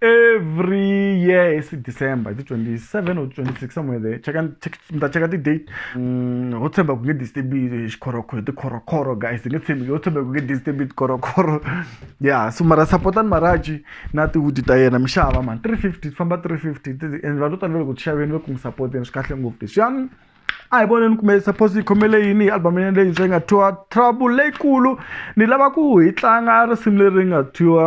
every year it's december ti 27 or 26 somewhere there cheka mta cheka ti date mm ho tshemba ku nge disturbiwe xikhorokhoro ti khorokhoro guys nge tshembi ho tshemba ku nge disturbiwe ti khorokhoro yeah so mara supportani maraji na ti wood ta yena mixava man 350 famba 350 and vanhu tani loko xaveni loko mi support yena swi kahle ngopfu leswi yani a hi voneni kumbe suppose yi khomele yini hi album yene leyi swi nga thyiwa trouble leyikulu ni lava ku hi tlanga risimu leri nga thyiwa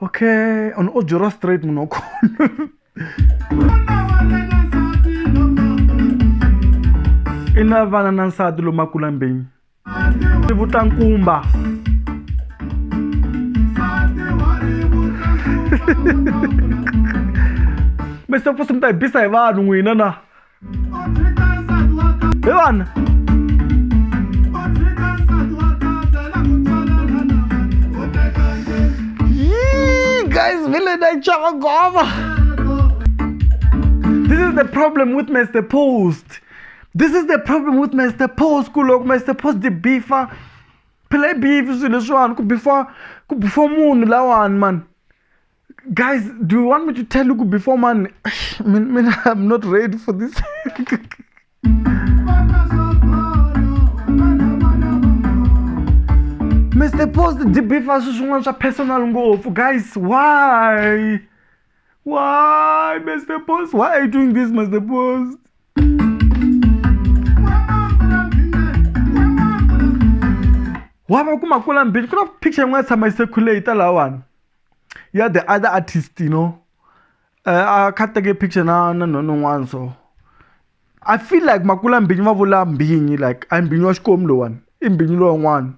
okay on ojora straight munokhona i na vana na nsati lomu makulambeni i vutankumba mi se fusi mi ta hi bisa hi vanhu n'wina na Byłam! Yee, guys, vile naichoma ngoma. This is the problem with Mr. Post. This is the problem with Mr. Post. Kulok Mr. Post the beefer. Play beef swilo swani ku beefer ku beefer munhu lawani man. Guys, do you want me to tell you before man? man, man I'm not ready for this. Mr. Post debefa sweswi n'wana swa personal ngopfu guys why why Mr. Post why are you doing this Mr. Post wava ku makula mbili ku na picture yin'wana tshama yi sekhuleyita lawani you are the other artist you know uh, a kha teke picture na na nhono n'wana so i feel like makula mbinyi va vula mbinyi like a mbinyi wa xikomu lowani i mbinyi lowun'wana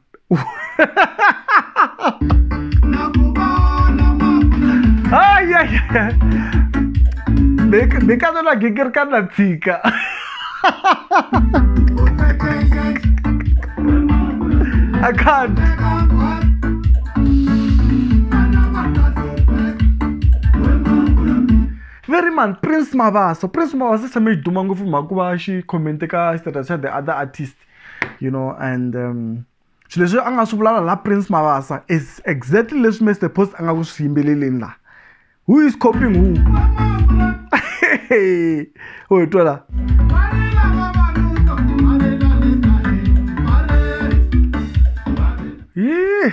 bekazela gigirikana tshika I can't. very man prince mavaso prince mavaso se mi duma ngopfu mhaka ku va xi commente ka status xa the other artist you know and um, swilo leswi a nga swi vulala la prince mavasa is exactly leswi mr post a nga ku swi yimbeleleni laha who is coping who o hi twa la yih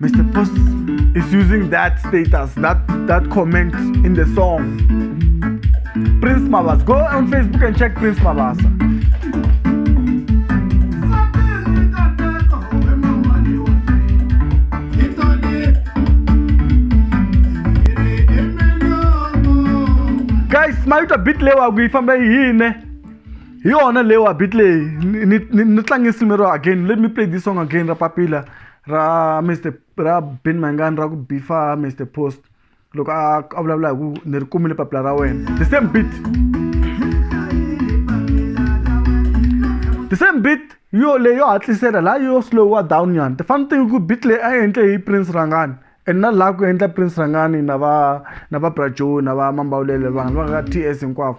Mr. Post is using that status, that, that comment in the song. Prince Mabasa. Go on Facebook and check Prince Mabasa. guys mayuta bit lewa ku yi famba yi yine hi yona lewa bit leyi ni tlangisi mero again let me play this song again ra papila ra Mister ra Benny Mayengani ra ku beef-a Mister Post loko a a vulavula hi ku ni ri kumile papila ra wena the same beat the same beat yo leyi yo hatlisela laha yo slow-a down nyana the funny thing i ku beat leyi a yi endle hi Prince Rhangani and na laha ku endla Prince Rhangani na va na va Bra Joe na va Mambawulele vanhu va ka T_S hinkwavo.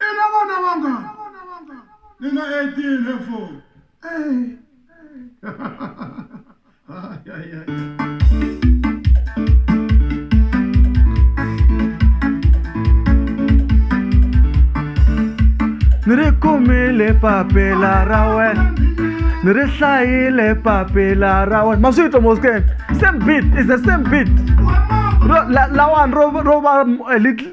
I na vana vangani? Ni na 18 he four. Ni ri kumile papila ra wena ni ri hlayile papila ra wena ma swi twa moskeni same beat is the same beat Ro- la- lawani ro ro va eh, little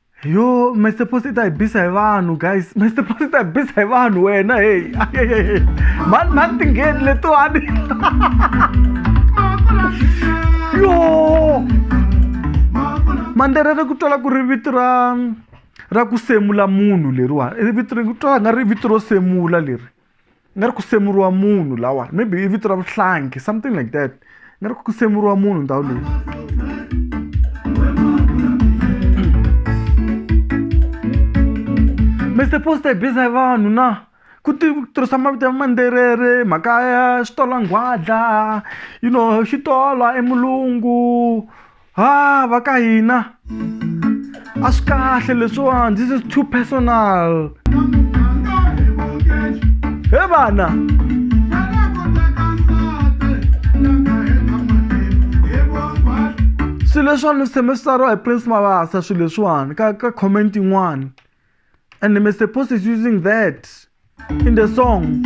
yo mr posita hi bisa hi vanhu guys mr posita hi bisa hi vanhu wena heyi mani mani tingheni letiwani yo mandera ra ku twala ku ri vito ra ra ku semula munhu leriwani vito ri twala nga ri vito ro semula leri nga ri ku semuriwa munhu lawa maybe i vito ra vuhlangi something like that nga ri ku semuriwa munhu ndhawu leyi mr poster biza hi vanhu na ku tirhisa mavito ya manderere mhaka ya xitolo nghwadla you know xitolo emulungu ha va ka hina a swi kahle leswiwani this is too personal he vana swilo leswiwani swi tshembe swi tsariwa hi prince mavasa swilo leswiwani ka ka comment yin'wani and Mr. Post is using that in the song.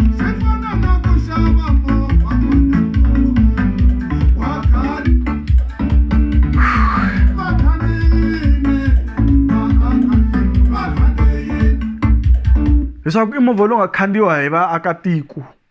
leswaku i movha lowu nga khandziwa hi vaakatiko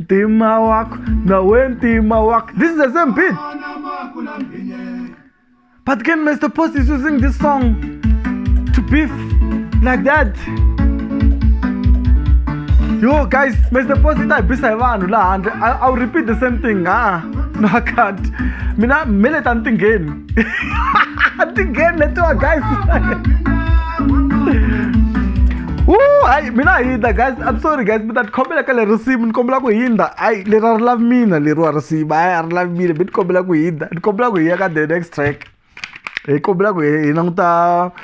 ntima wakho nawe ntima wakho this is the same beat but can mr post is using this song to beef like that yo guys mr post i ta hi bisa hi vanhu laha handle I, i'll repeat the same thing ah no i can't mina mele ta ni tingheni tingeni letiwa guys Ooh, hayi mina hindza guys i'm sorry guys mina tikhomela ka le risimu ni kombela ku hindza hayi leri a ri lavi mina leriwa risimu hayi a ri lavi mina mi ni kombela ku hindza ni kombela ku hiya ka the next track hi kombela ku hi languta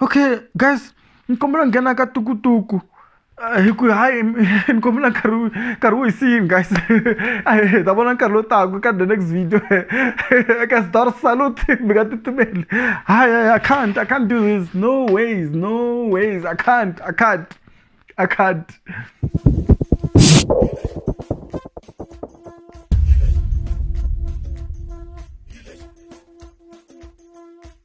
okay guys ni kombela nghena ka tukutuku eh, hi ku hayi ni kombela nkarhi nkarhi wo hisini guys hi ta vona nkarhi lowu taku ka the next video ka star salute mi nga titimeli hayi hayi i can't i can't do this no ways no ways i can't i can't i can't